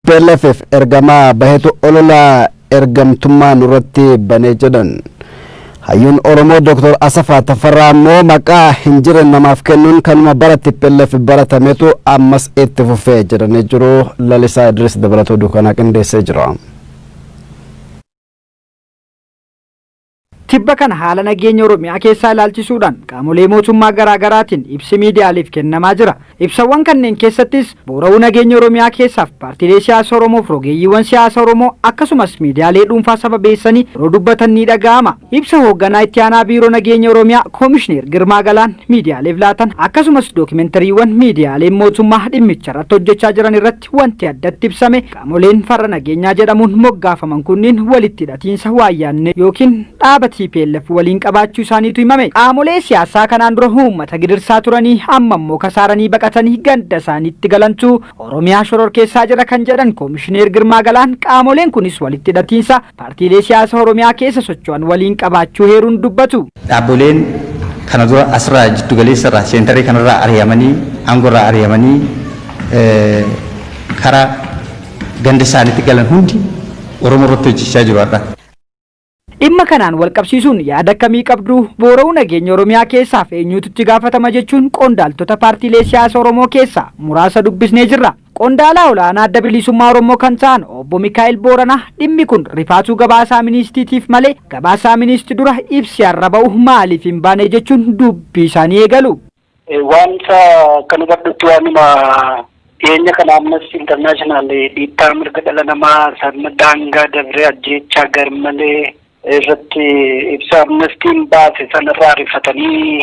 Tplf ergamaa bahetu olola ergamtummaa nurratti bane jedhan. Hayyuun Oromoo Dr. Asafaa Tafarraa ammoo maqaa hin jirre namaaf kennuun kanuma bara tplf baratametu ammas itti fufe jedhanii jiru. Lalisaa Idris dabalatoo duukanaa qindeessee jira. Tibba kana haala nageenya Oromiyaa keessaa ilaalchisuudhaan qaamolee mootummaa garaa garaatiin ibsi miidiyaaleef kennamaa jira. Ibsawwan kanneen keessattis boora'uu nageenya Oromiyaa keessaaf paartiilee siyaasa Oromoof rogeeyyiiwwan siyaasa Oromoo akkasumas miidiyaalee dhuunfaa sababeessanii yeroo dubbatan ni dhaga'ama. Ibsa hoogganaa itti aanaa biiroo nageenya Oromiyaa Koomishineer Girmaa Galaan miidiyaaleef laatan akkasumas dookimentariiwwan miidiyaaleen mootummaa dhimmicharratti hojjechaa jiran irratti keessatti wanti addatti ibsame qaamoleen farra nageenyaa jedhamuun moggaafaman kunniin walitti hidhatiinsa waayyaannee yookiin dhaaba tplf waliin qabaachuu isaaniitu himame. Qaamolee siyaasaa kanaan dura uummata gidirsaa turanii amma immoo kasaaranii baqatanii ganda isaaniitti galantu Oromiyaa shororkeessaa jira kan jedhan Koomishineer Girmaa Galaan qaamoleen kunis walitti hidhatiinsa paartiilee siyaasa Oromiyaa keessa socho'an waliin qabaachuu heeruun dubbatu. Dhaabboleen kana dura asirraa jiddu galeessa irraa seentarrii kanarraa ari'amanii aangoo irraa ari'amanii kara ganda isaaniitti galan hundi Oromoo irratti hojjechaa jiru har'a. Dhimma kanaan walqabsiisuun yaada akkamii qabdu? Boora'uu nageenya Oromiyaa keessaaf eenyuutu itti gaafatama jechuun qondaaltota paartiilee siyaasa Oromoo keessaa muraasa dubbisnee jirra. Qondaalaa olaanaa Adda Bilisummaa Oromoo kan ta'an Obbo Mikaa'el Booranaa dhimmi kun rifaatuu gabaasaa Ministiitiif malee gabaasaa Ministi dura ibsi har'a ba'u maaliif hin baane jechuun dubbii isaanii eegalu. Waanta kan hubadhutti waanuma dhiyeenya kana ammas international dhiittaa mirga dhala namaa sirna daangaa dabree ajjeechaa garmalee irratti ibsa amnestiin baase sanarraa rifatanii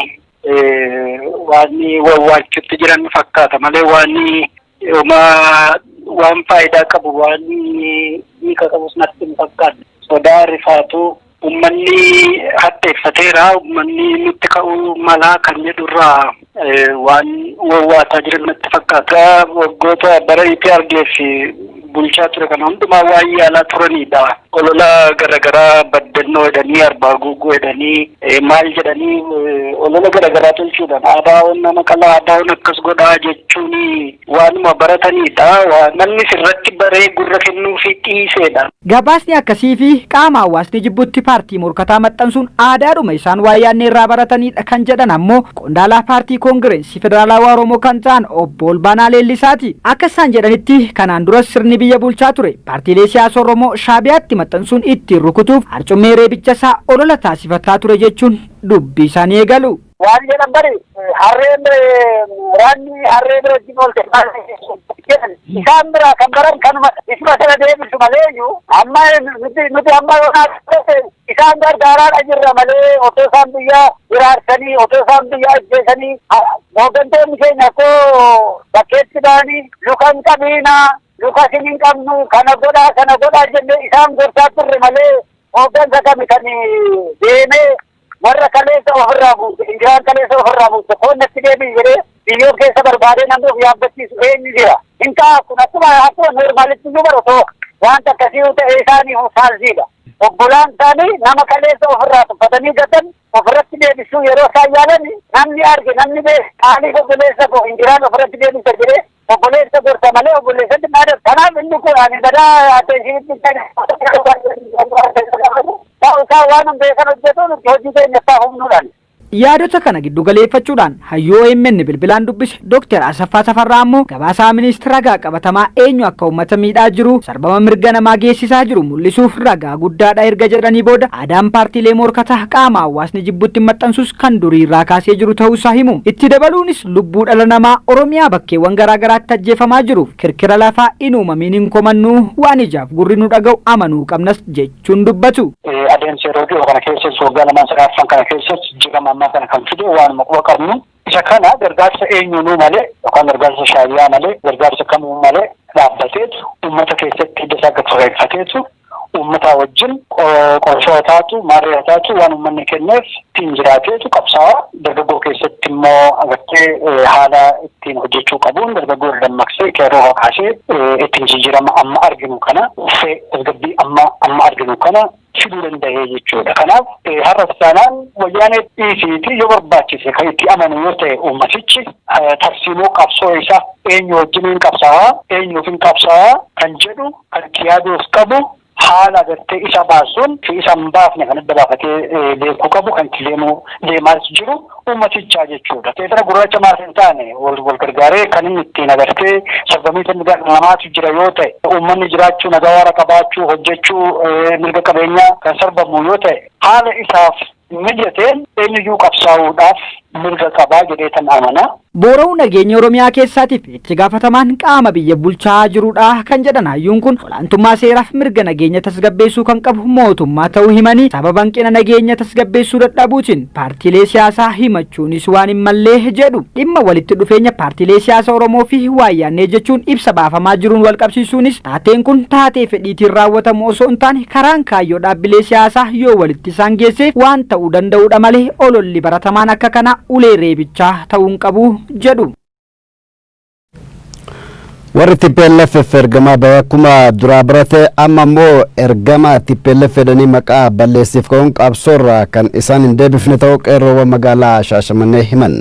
Waan wawwaachutti jiran fakkaata malee waan homaa waan faayidaa qabu waan hiika qabus natti hin fakkaanne. Sodaa rifaatuu ummanni hadheeffateera ummanni nutti ka'uu malaa kan jedhurraa waan wawwaataa jiran natti fakkaata. Waggoota bara EPRDF bulchaa ture kana hundumaa waan yaalaa turanidha. Olola garagaraa baddannoo jedhanii arbaa guuguu jedhanii maal jedhanii olola garagaraa tolchuudhaan ABOn nama qalaa ABOn akkas godhaa jechuun waanuma baratanidha. Namni sirratti baree gurra kennuufii dhiiseedha. Gabaasni akkasii fi qaama hawaasni jibbutti paartii morkataa maxxansuun aadaadhuma isaan waayyaanneerraa baratanidha kan jedhan ammoo qondaalaa paartii Koongireensi. Federaalawaa Oromoo kan ta'an obbo Olbaanaa Leellisaati. Akka isaan jedhanitti kanaan duras sirni biyya bulchaa ture paartiilee siyaasa Oromoo Shaabiyaatti maxxansuun ittiin rukutuuf harcummee reebicha isaa olola taasifataa ture jechuun dubbii isaanii eegalu. Waan jedhan bari harreen waraanni harree bira wajjin oolte jedhan isaan biraa kan baran kanuma isuma sana deebisu malee iyyuu amma nuti amma Isaan gargaaraadha jirra malee otoo isaan biyya hiraarsanii otoo isaan biyya ajjeesanii hooggantoonni keenya akkoo bakkeetti ba'anii luka hin qabiina luka isin hin qabnu kana godhaa sana godhaa jennee isaan gorsaa turre malee hooggansa kami kan deemee warra kaleessa ofirraa buuse injiraan kaleessa ofirraa buuse koon natti deebiin jedhee Biyyoo keessa barbaadee namni of yaabbachiisu eenyu jira? Hin ta'a kun akkuma akkuma noormaalitti iyyuu bara osoo wanta akkasii yoo ta'e isaanii faalsiidha. Obbolaan isaanii nama kaleessa ofirraa tuffatanii gatan ofirratti deebisuu yeroo isaan yaalan namni arge namni beeku qaaliif obboleessa koo hin jiraan ofirratti deebisa jedhee obboleessa gorsa malee obboleessatti maada. Kanaaf inni kun ani badaa atteeshinitti ta'u isaa waan hin beekan hojjetuun hojii keenya isaa humnuudhaan. Yaadota kana giddu galeeffachuudhaan hayyuu omn bilbilaan dubbise Dr. Asaffaa Tafarraa ammoo gabaasaa Minist ragaa qabatamaa eenyu akka uummata miidhaa jiruu, sarbama mirga namaa geessisaa jiru mul'isuuf ragaa guddaadha erga jedhanii booda aadaan paartiilee moorkataa qaama hawwaasni jibbutti maxxansuus kan durii irraa kaasee jiru ta'uu isaa himu. Itti dabaluunis lubbuu dhala namaa Oromiyaa bakkeewwan garaa garaatti ajjeefamaa jiruuf kirkira lafaa hin uumamiin hin komannuu waan ijaaf gurri nu dhaga'u amanuu qabnas jechuun. jechuun dubbatu. Adeemsa yeroo dhiyoo kana keessas waggaa lamaan sadii arfan kana keessas jijjiirama ammaa kana kan fide waanuma quba qabnu. Isa kana gargaarsa eenyuunuu malee yookaan gargaarsa shaabiyaa malee gargaarsa kamuu malee dhaabbateetu uummata keessatti hidda isaa gad fageeffateetu uummataa wajjin qorshoo taatu maarree taatu waan uummanni kenneef ittiin jiraateetu qabsaa'aa Dargaggoo keessatti immoo agartee haala ittiin hojjechuu qabuun dargaggoo irra dammaqsee qeerroo kakaasee ittiin jijjiirama amma arginu kana dhufee tasgabbii amma amma arginu kana fiduu danda'ee jechuudha. Kanaaf har'a isaanaan wayyaanee dhiisiitii yoo barbaachise kan itti amanu yoo ta'e uummatichi tarsiimoo qabsoo isaa eenyu wajjiniin qabsaawaa eenyuuf hin qabsaawaa kan jedhu kan itti yaaduuf qabu haala agartee isa baasuun fi isa hin baafne kan adda baafatee beekuu qabu kan itti deemu deemaas jiru uummatichaa jechuudha. Seexana gurraacha maaf hin taane wal wal gargaaree kan inni ittiin agartee sarbamiinsa mirgaa dhala namaatu jira yoo ta'e uummanni jiraachuu nagaa waara qabaachuu hojjechuu mirga qabeenyaa kan sarbamu yoo ta'e haala isaaf mijateen eenyuyyuu qabsaa'uudhaaf mirga qaba jedheetan amana. Boora'uu nageenya Oromiyaa keessaatiif itti gaafatamaan qaama biyya bulchaa jirudha kan jedhan hayyuun kun, olaantummaa seeraaf mirga nageenya tasgabbeessuu kan qabu mootummaa ta'uu himanii, sababa hanqina nageenya tasgabbeessuu dadhabuutiin paartiilee siyaasaa himachuunis waan hin malle jedhu. Dhimma walitti dhufeenya paartiilee siyaasa Oromoofi waayyaannee jechuun ibsa baafamaa jiruun walqabsiisuunis, Taateen kun taatee fedhiitiin raawwatamu osoo hin taane karaan kaayyoo dhaabbilee siyaasaa yoo walitti isaan geesse waan ta'uu danda'uudha malee ololli baratamaan akka kanaa ulee reebichaa ta'uu hin qabu jedhu. Warri TPLF ergamaa ba'e akkuma duraa barate amma immoo ergamaa TPLF jedhanii maqaa balleessiif ka'uun qabsoorraa kan isaan hin deebifne ta'uu qeerroowwan magaalaa Shaashamannee himan.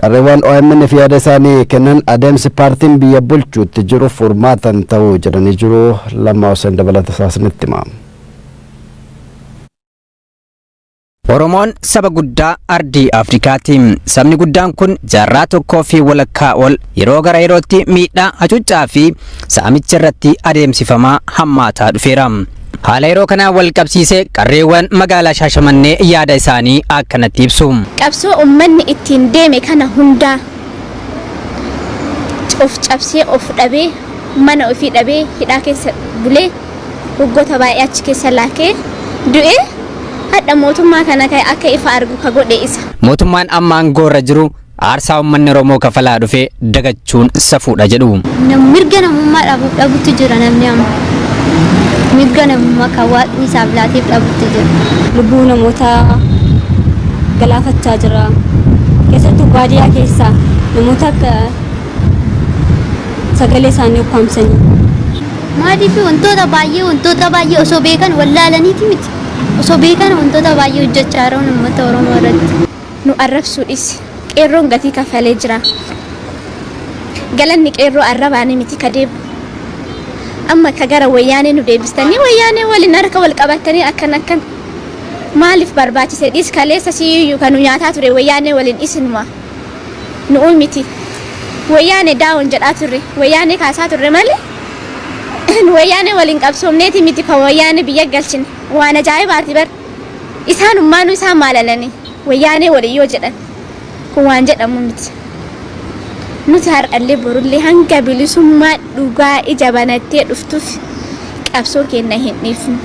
Qarreewwaan OMNf yaada isaanii kennan adeemsi paartiin biyya bulchu itti jiru furmaata hin ta'u jedhanii jiru. Lammaa Huseen dabalata isaa isinitti hima. Oromoon saba guddaa ardii Afrikaati. Sabni guddaan kun jaarraa tokkoo fi walakkaa ol yeroo gara yerootti miidhaa, hacuuccaa fi saamichi irratti adeemsifamaa hammaataa dhufeera. Haala yeroo kanaan wal qabsiisee qarreewwan magaalaa Shaashamannee yaada isaanii akkanatti ibsu. Qabsoo ummanni ittiin deeme kana hundaa of cabsee, of dhabee, mana ofii dhabee hidhaa keessa bulee waggoota baay'ee achi keessa laakee du'e hadha mootummaa kana ka akka ifa argu ka godhe isa. Mootummaan amma aangoorra jiru Aarsaa ummanni Oromoo kafalaa dhufe dagachuun safuudha jedhu. Nam- mirga namummaa dhabu- dhabutti jira namni amma mirga namummaa kan waaqni isaaf laateef dhabutti jira. lubbuu namoota galaafachaa jira keessattuu baadiyyaa keessaa namoota akka sagalee isaanii ukkaamsanii Maaliif wantoota baay'ee wantoota baay'ee osoo beekan wallaalaniiti miti osoo beekan wantoota baay'ee hojjechaa jiran uummata Oromoo irratti. Nu arrabsuu dhisi. Qeerroon gatii kaffalee jira. Galanni qeerroo arrabaani miti ka deebu. Amma ka gara wayyaanee nu deebistanii wayyaanee waliin harka wal qabattanii akkan akkan maaliif barbaachise dhis kaleessa siyyuu ka nu nyaataa ture wayyaanee waliin isinuma. Nu'uu miti. Wayyaanee down jedhaa turre. Wayyaanee kaasaa turre malee nu wayyaanee waliin qabsoomneeti miti ka wayyaanee biyya galchine. Waan ajaa'ibaati bar. Isaanummaanuu isaan maalalanii Wayyaanee waliin yoo jedhan kun waan jedhamu miti. Nuti har'allee borullee hanga bilisummaan dhugaa ija banattee dhuftutti qabsoo keenya hin dhiifnu.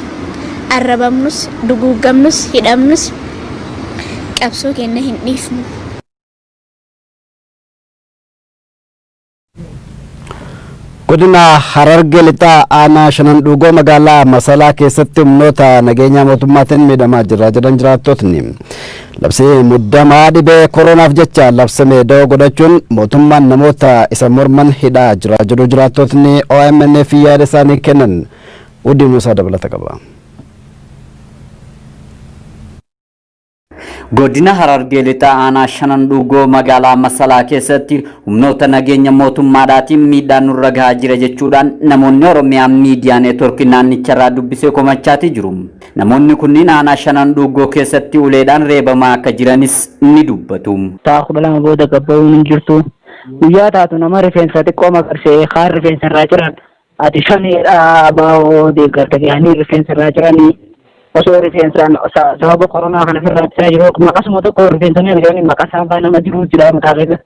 Arrabamnus, duguuggamnus, hidhamnus qabsoo keenya hin dhiifnu. Godina Harargee Lixaa aanaa shanan dhuugoo magaalaa Masalaa keessatti humnoota nageenyaa mootummaatiin miidhamaa jira jedhan jiraattotni. Labsii muddamaa dhibee koroonaaf jecha labsame da'oo godhachuun mootummaan namoota isa morman hidhaa jira jedhu jiraattotni OMNf yaada isaanii kennan. Udiin Musaa dabalata qaba. Godina Harargee Lixaa Aanaa Shanan Dhuugoo magaalaa Masalaa keessatti humnoota nageenya mootummaadhaatiin miidhaan nurra gahaa jira jechuudhaan namoonni Oromiyaa miidiyaa neetworkii naannicharraa dubbise komachaatii jiru. Namoonni kunniin aanaa Shanan Dhuugoo keessatti uleedhaan reebamaa akka jiranis ni dubbatu. Sa'a kudha lama booda gabbaa'uun hin jirtu. Guyyaa taatu nama rifeensa xiqqoo maqarse kaan rifeensa irraa ciran Ati shaneedha abaa'oo deeggarta jedhanii rifeensa irraa ciranii osoo rifeensaan sababa koronaa kana irraa ciraa jiru akkuma akkasuma tokko rifeensanii arganii maqaa saafaa nama jiruu jira mataa keessa.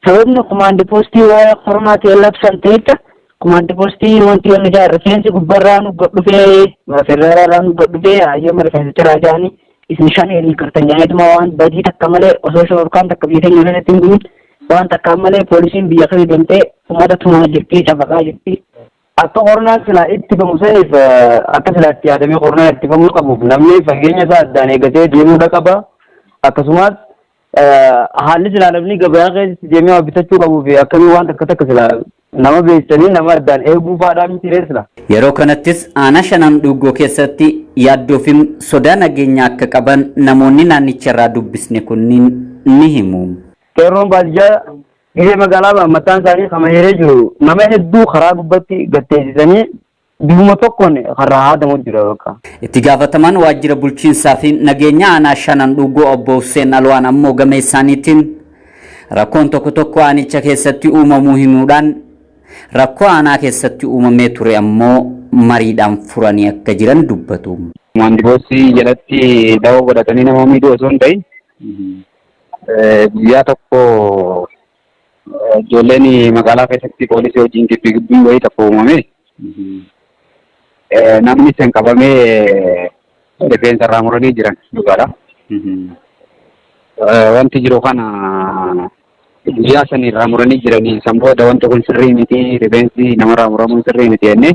Sababni kumaandi poostii waa'ee koronaatiin labsan ta'echa kumaandi poostii wanti wanni jaa rifeensi gubbarraa nu godhufee federaalaa nu godhufee hayyama rifeensa ciraa jaanii isin shanee hin kartan jedhaniituma waan badii takka malee osoo shororkaan takka biyya keenya keessatti hin bu'in waan takkaan malee poolisiin biyya keessa deemtee uummata tumaa jirti cafaqaa jirti. Akka qornaan silaa itti bamu saniif akka silaa itti yaadamee qornaan itti bamuu qabuuf namni fageenya isaa addaan eegatee deemuudha qaba. Akkasumas haalli silaa namni gabayaa keessatti deemee waa bitachuu qabuu fi akkamii waan takka takka silaa nama beeksisanii nama addaan eeguu faadhaa miti ree silaa. Yeroo kanattis aanaa shanan dhuugoo keessatti yaaddoo fi sodaa nageenyaa akka qaban namoonni naannicha irraa dubbisne kunniin ni himu. Qeerroon baadiyyaa biyya magaalaa mataan isaanii kama hiree jiru nama hedduu karaa gubbatti gatteessisanii Bifuma tokkoon karraa haadamu jira bakka. Itti gaafatamaan waajjira bulchiinsaa fi nageenya aanaa shanan dhuugoo obbo Husseen Alwaan ammoo gama isaaniitiin rakkoon tokko tokko aanicha keessatti uumamuu himuudhaan rakkoo aanaa keessatti uumamee ture ammoo mariidhaan furanii akka jiran dubbatu. Maandiboosii jalatti dawoo godhatanii nama miidhuu osoo hin ta'in guyyaa tokko Ijoolleen magaalaa keessatti poolisii wajjin gibbii gibbiin wayii tokko uumame. Namni san qabamee rifeensa irraa muranii jiran dhugaadha. Wanti jiru kana guyyaa san irraa muranii jiranii san booda wanti kun sirrii miti rifeensi namarraa muramuun sirrii miti jennee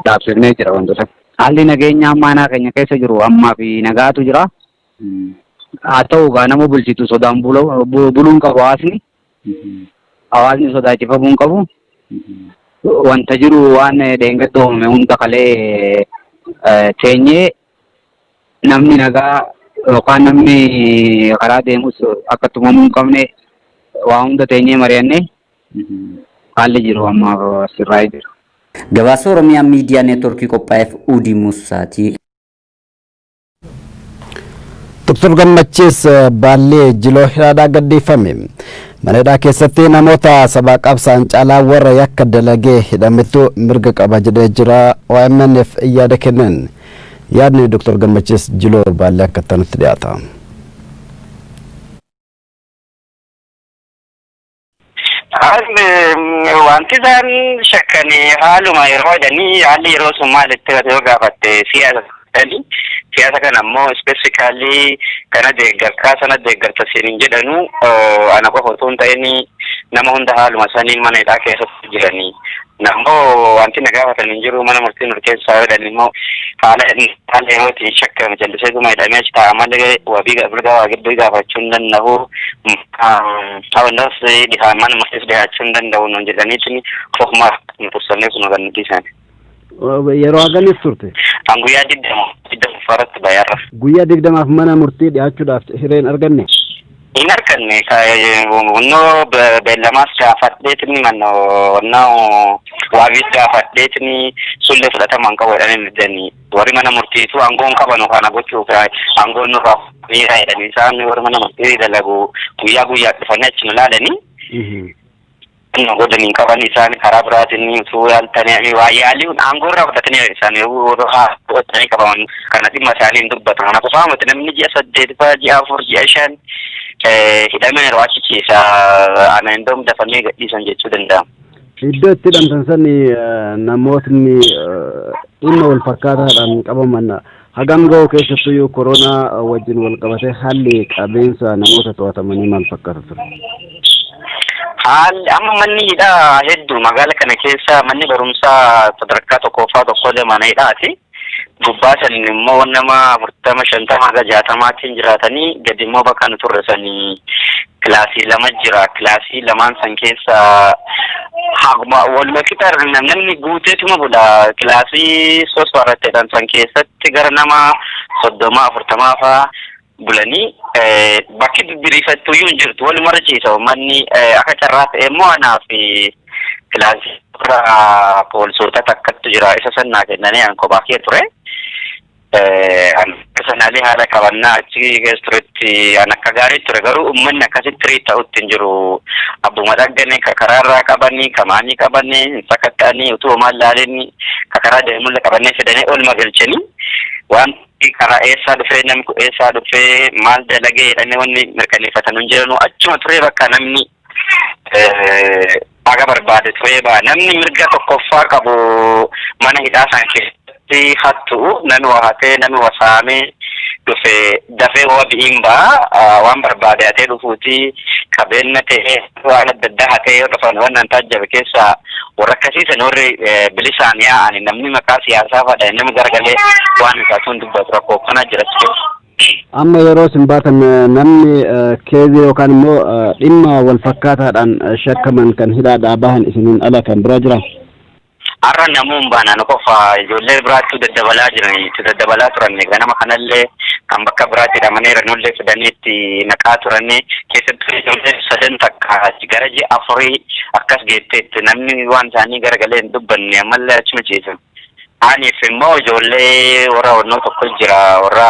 dhaabsifnee jira wantoota. Haalli nageenya ammaa aanaa keenya keessa jiru ammaa fi nagaatu jira. Haa ta'u kaa nama bulchitu sodaan buluu hin qabu hawaasni. Hawaasni sodaachifamuu hin qabu. Wanta jiru waan dheengadda uumame hunda kalee teenyee namni nagaa yookaan namni karaa deemus akka tumamuu hin qabne waa hunda teenyee mari'annee haalli jiru ammaaf sirraa'ee jira. Gabaasa Oromiyaa Miidiyaa Neetwoorkii qophaa'eef Uudii Muussaati. Dr. Gammachiis Baallee Jiloo Hiraadhaa gadhiifame. Mana hidhaa keessatti namoota sabaa qabsaan caalaa warra yakka dalagee hidhametu mirga qaba jedhee jira OMNf yaada kennan. Yaadni Dr. Gammachiis Jiloo Baallee akka itti dhiyaata. Haalli wanti isaan shakkan haaluma yeroo jedhanii haalli yeroo sun maal itti himate yoo gaafatte siyaasa jedhanii siyaasa kana ammoo ispeesifikaalii kana deeggartaa sana deeggarta siin hin jedhanu ana qofa otoo hin ta'in nama hunda haaluma saniin mana hidhaa keessatti jiranii Nammoo wanti na gaafatan hin jiru mana murtii murteessaa yoo jedhan immoo haala haala yerootiin shakkame jalliseetuma hidhamee achi taa'a malee wabii mirga waa gidduu gaafachuu hin danda'u. Hawwannas dhihaa mana murtiis dhihaachuu hin danda'u nuun jedhaniitiin ofuma murteessanii osuma kan nuti isaani. Yeroo haganis turte. Kan guyyaa digdama digdama faarratti bayarra. Guyyaa digdamaaf mana murtii dhiyaachuudhaaf hireen arganne. Hin arganne onnoo beellamaas gaafadheetni manno onnaa waabiis gaafadheetni sullee fudhatama hin qabu jedhanii middanii warri mana murtiitu aangoon qabanu kana gochuuf aangoon nurraa miiraa jedhanii isaan warri mana murtii dalagu guyyaa guyyaa dhufanii achi nu laalanii Kan godhan hin qaban isaan karaa biraatiin utuu yaaltanii waa yaalii kun aangoo irraa fudhatanii isaan yeroo fudhatanii qabaman kana dhimma isaanii hin dubbatu. Kana qofaa miti namni ji'a saddeet fa'aa ji'a afur ji'a shan hidhamee yeroo achichiisa ana hin doomu dafanii gadhiisan jechuu danda'ama. Iddoo itti hidhamtan sani namootni dhimma wal fakkaataadhaan qabaman Hagam gahu keessattuyyuu koronaa wajjin walqabatee haalli qabeensa namoota to'atamanii maal fakkaata ture? Haalli amma manni hidhaa hedduu magaala kana keessa manni barumsaa sadarkaa tokkoffaa tokkollee mana hidhaati. Gubbaa san immoo nama afurtama shantama haga jaatamaatiin jiraatanii gadi immoo bakka nu turre sanii kilaasii lama jira. Kilaasii lamaan san keessa Akkuma waluma qixa namni guuteetuma bula kilaasii sos baratteedhaan san keessatti gara nama soddomaa afurtamaa faa bulanii bakki biriifattu iyyuu hin jirtu waluma irra ciisa uummanni akka carraa ta'e immoo anaa fi kilaasii irra poolisoota takkattu jira isa sannaa kennanii an kophaa kee ture. An akka sanaalee haala qabannaa achi keessa turetti an akka gaarii ture garuu uummanni akkasitti tirii ta'utti hin jiru. Abbuma dhaggane ka karaarraa qabanii ka maanii qabanii hin sakatta'anii utuu homaan laalanii ka karaa deemulla qabannee fidanii olma galchanii waan karaa eessaa dhufee namni kun eessaa dhufee maal dalagee jedhanii wanni mirkaneeffatan hin jiranu achuma turee bakka namni Haga barbaade turee ba'a. Namni mirga tokkoffaa qabu mana hidhaa san keessatti hattu'u, nami wa hatee, nami wa saamee dhufe dafee wabi'iin ba'a. Waan barbaade hatee dhufuuti. Qabeenna ta'ee waan adda addaa hatee yoo dhufan waan an taajjabe keessaa warra akkasii san warri bilisaan yaa'ani namni maqaa siyaasaa fadha namni garagalee waan isaatu hin dubbatu rakkoo akkanaa jira achi keessa. Amma yeroo isin baatan namni keezii yookaan immoo dhimma wal fakkaataadhaan shakkaman kan hidhaadhaa bahan isiniin ala kan biraa jiraa? Har'a namuun baanaan qofa ijoollee biraattuu daddabalaa jiranii itti daddabalaa turan ganama kanallee kan bakka biraatti hidhamanii ranollee fidanii itti naqaa turanii keessattuu ijoollee sadan takka gara ji'a afurii akkas geetteetti namni waan isaanii garagalee hin dubbanne ammallee achuma ciisan. Aniif immoo ijoollee warra onnoo tokko jira warra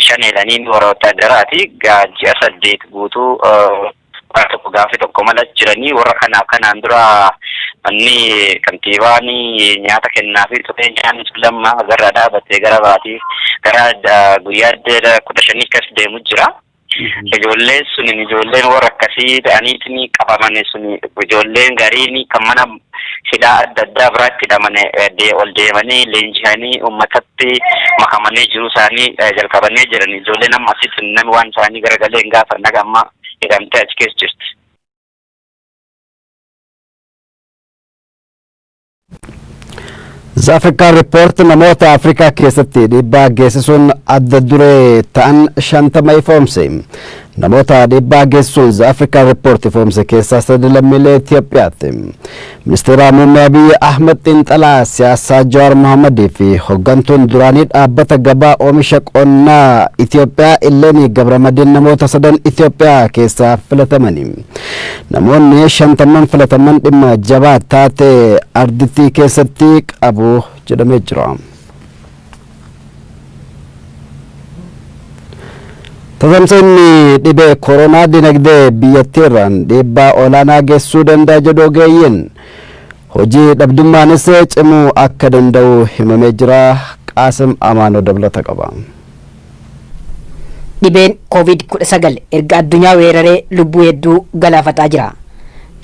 shaneedhaniin warra wotaadaraati gaa ji'a saddeet guutuu warra tokko gaafi tokko mala jiranii warra kana kanaan dura manni kantiibaan nyaata kennaa fi turee nyaanni sun lamma gara dhaabatee gara baatii gara guyyaa kudha shanii kas deemu jira. Ijoolleen suni ijoolleen warra akkasii ta'aniitiin qabaman suni ijoolleen gariin kan mana hidhaa adda addaa biraatti hidhaman ol deemanii leenji'anii uummatatti makamanii jiruu isaanii jalqabanii jiran. Ijoolleen amma asitti namni waan isaanii garagalee hin gaafanne haga amma hidhamtee achi keessa jirti. Zaafrikaan Riippoort namoota Afrikaa keessatti dhiibbaa geessisuun adda duree ta'an shantama ifoomse. Namoota dhiibbaa geessisuun Zaafrikaan Riippoort ifoomse keessaa sadi lammiilee Itoophiyaati. Ministeera Muummee Abiyyi Ahmad xiinxalaa siyaasaa Jawaar Mohammadii fi hoggantuun duraanii dhaabbata gabaa oomisha qonnaa Itoophiyaa Illeenii Gabramadiin namoota sadan Itoophiyaa keessaa filatamani. Namoonni shantamman filatamman dhimma jabaa taate ardittii keessatti qabu jedhamee jira. Tatamsa'inni dhibee koronaa dinagdee biyyattiirraan dhiibbaa olaanaa geessisuu danda'a jedhu ogeeyyiin. Hojii dhabdummaanis cimuu akka danda'u himamee jira. Qaasim Amaanoo dabalata qaba. Dhibeen Covid 19 erga addunyaa weeraree lubbuu hedduu galaafataa jira.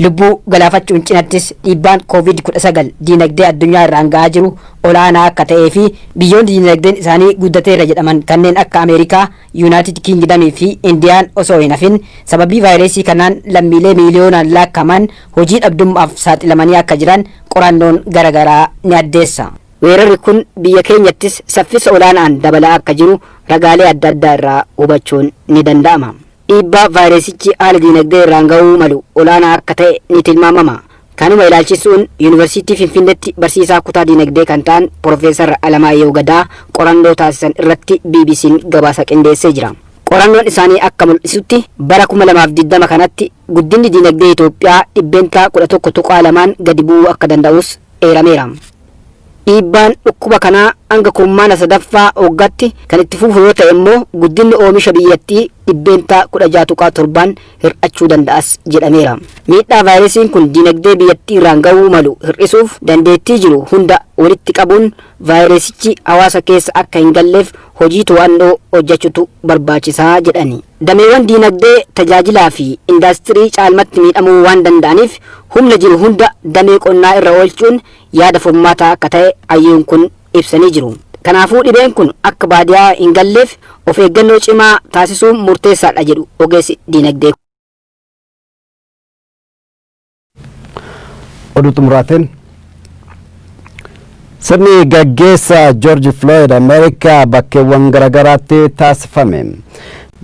Lubbuu galaafachuun cinattis dhiibbaan Covid 19 diinagdee addunyaa irraan ga'aa jiru olaanaa akka ta'ee fi biyyoonni diinagdeen isaanii guddateera jedhaman kanneen akka Ameerikaa, Yuunaayitid Kiingidamii fi Indiyaan osoo hin hafin sababii vaayireesii kanaan lammiilee miiliyoonaan laakkaman hojii dhabdummaaf saaxilamanii akka jiran qorannoon garagaraa ni addeessa. Weerarri kun biyya keenyattis saffisa olaanaan dabalaa akka jiru ragaalee adda addaa irraa hubachuun ni danda'ama. Dhiibbaa vaayiresichi haala diinagdee irraan ga'uu malu olaanaa akka ta'e ni tilmaamama. Kanuma ilaalchisuun Yuunivarsiitii Finfinnetti barsiisaa kutaa diinagdee kan ta'an Pirofeesar Alamaayehu Gadaa qorannoo taasisan irratti BBCn gabaasa qindeessee jira. Qorannoon isaanii akka mul'isutti bara 2020 kanatti guddinni diinagdee Itoophiyaa dhibbeentaa 11.2n gadi bu'uu akka danda'us eerameera. Dhiibbaan dhukkuba kanaa hanga kurmaana sadaffaa waggaatti kan itti fufu yoo ta'e immoo guddinni oomisha biyyattii dhibbeentaa 16.7n hir'achuu danda'as jedhameera. Miidhaa vaayiresiin kun diinagdee biyyattiirraan ga'uu malu hir'isuuf dandeettii jiru hunda walitti qabuun Vaayiresichi hawaasa keessa akka hin galleef hojii to'annoo hojjachutu barbaachisa jedhani. Dameewwan diinagdee, tajaajilaa fi indaastirii caalmatti miidhamuu waan danda'aniif humna jiru hunda damee qonnaa irra oolchuun yaada furmaataa akka ta'e hayyuun kun ibsanii jiru. Kanaafuu dhibeen kun akka baadiyaa hin galleef of eeggannoo cimaa taasisuun murteessaadha jedhu ogeessi diinagdee kun. Oduu xumuraatiin sirni gaggeessa Joorji Filooyid Ameerikaa bakkeewwan garaagaraatti taasifame.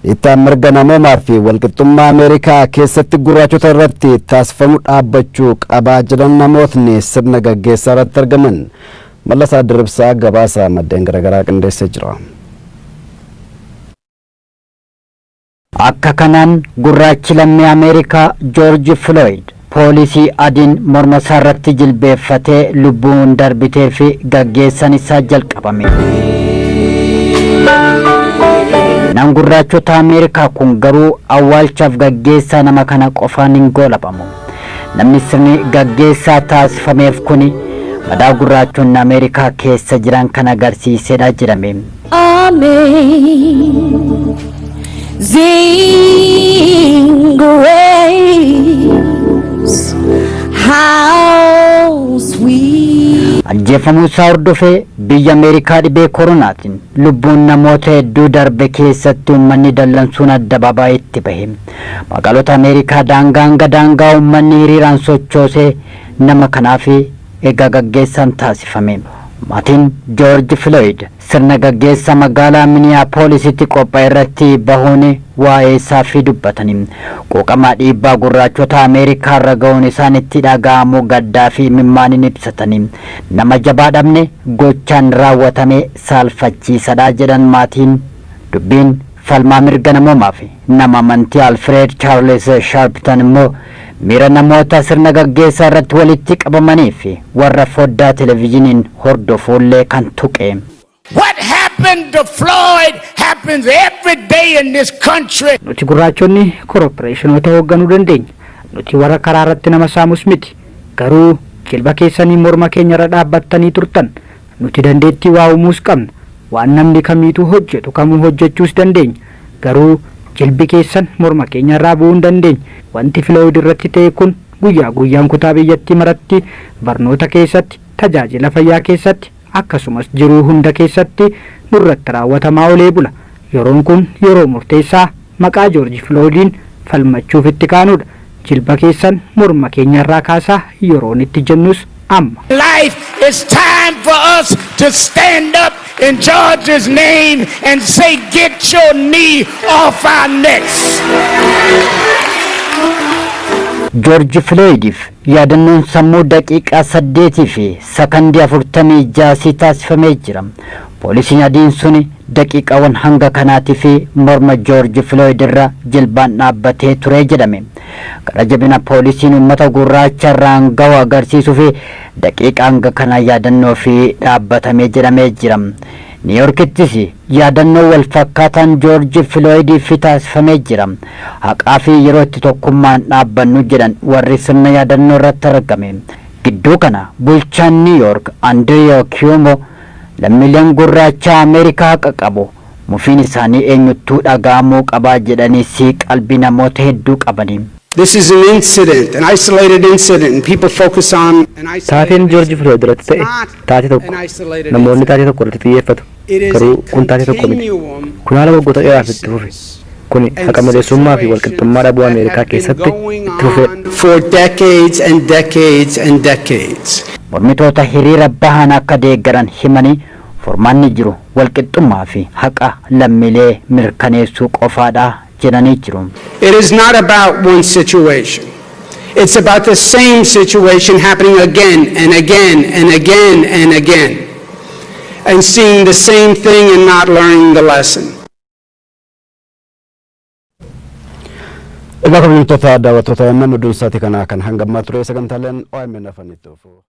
Dhiittaan mirga namoomaa fi walqixxummaa Ameerikaa keessatti gurraachota irratti taasifamu dhaabbachuu qabaa jedhan namootni sirna gaggeessaa irratti argaman. Mallasaa Dirribsaa gabaasa maddeen garaagaraa qindeessee jira. Akka kanaan gurraachi lammii Ameerikaa Joorji Filooyid poolisii adiin mormasaarratti jilbeeffatee lubbuun darbiteefi gaggeessaan isaa jalqabame. Seenaan gurraachota Ameerikaa kun garuu awwaalchaaf gaggeessaa nama kana qofaan hin goolabamu. Namni sirni gaggeessaa taasifameef kuni madaa gurraachonni Ameerikaa keessa jiran kan agarsiisedha jedhame. Amen. Sing waves, how sweet. Ajjeefamuu isaa hordofee biyya Ameerikaa dhibee koronaatiin lubbuun namoota hedduu darbe keessatti uummanni dallansuun addabaabaayitti bahe. Magaalota Ameerikaa daangaa hanga daangaa uummanni hiriiraan sochoosee nama kanaaf Egaa gaggeessaan taasifame. Maatiin Joorji Filooyid sirna gaggeessa magaalaa Miniyaapoolisitti qopha'erratti bahuun waa'eesaafi dubbatanii, quuqama dhiibbaa gurraachota Ameerikaarra ga'uun isaanitti dhaga'amu gaddaafi imimmaaniin ibsatanii, Nama jabaa dhabne, gochaan raawwatame saalfachiisadha jedhan maatiin. Dubbiin. Falmaa mirga namoomaa fi nama amantii Alfreed Chaarlis Shaarptan immoo miira namoota sirna gaggeessaa irratti walitti qabamanii fi warra foddaa televizhiniin hordofuu illee kan tuqe. What happened to Floyd happens every day in this country. Nuti gurraachonni koroppireeshinoota hoogganuu dandeenya. Nuti warra karaa irratti nama saamus miti. Garuu jilba keessaniin morma keenya irra dhaabbattanii turtan. Nuti dandeettii waa uumuus qabna. Waan namni kamiituu hojjetu kamuu hojjechuus dandeenya. Garuu jilbi keessan morma keenyarraa bu'uu hin dandeenye. Wanti Filooyid irratti ta'e kun guyyaa guyyaan kutaa biyyattii maratti, barnoota keessatti, tajaajila fayyaa keessatti, akkasumas jiruu hunda keessatti nurratti raawwatamaa olee bula. Yeroon kun yeroo murteessaa, Maqaa Joorji Filooyidiin falmachuuf itti kaanudha. Jilba keessan morma keenyarraa kaasaa yeroon itti jennus amma. life it's time for us to stand up in George's name and say get your knee off our necks. Joorji Filooyidiif Yaadannoon sammuu daqiiqaa 8 fi sakandii 46 sii taasifamee jira. Poolisiin adiin suni daqiiqaawwan hanga kanaatiif morma Joorji Filooyid irra jilbaan dhaabbatee ture jedhame. Gara jabina poolisiin uummata gurraacha irraan gahu agarsiisuuf daqiiqaa hanga kanaa yaadannoof dhaabbatame jedhamee jira. Niiyorkittis yaadannoo wal fakkaataan Joorji Filooyidiif taasifamee jira. Haqaa fi yeroo itti tokkummaan dhaabbannu jedhan warri sirna yaadannoo irratti argame. Gidduu kana bulchaan Niiw Yoork Andiriiyoo Kiyoomoo lammiileen gurraachaa Ameerikaa haqa qabu, mufiin isaanii eenyuttuu dhaga'amuu qaba jedhaniis qalbii namoota hedduu qabani. This is an incident, an isolated incident and people focus on an isolated Taateen Joorji incident. Filooyid irratti It's ta'e not taatee an tokko. isolated Namoonni incident. taatee tokko irratti xiyyeeffatu. It is a Garuu kun taatee tokko miti. continuum Kun haala waggoota of dheeraaf itti fufe. crises Kuni and haqa maleessummaa fi walqixxummaa situations dhabuu that Ameerikaa have been keessatti itti going fufeedha. on for decades and decades and decades. Mormitoota hiriira bahan akka deeggaran himanii furmaanni jiru walqixxummaa fi haqa lammiilee mirkaneessuu qofaadha jedhanii jiru. It is not about one situation. It's about the same situation happening again and again and again and again and seeing the same thing and not learning the lesson. Egaa kabajamtoota daawwattoota MM Duunsaati kana kan hangammaa ture sagantaaleen OMN afanitti ofu.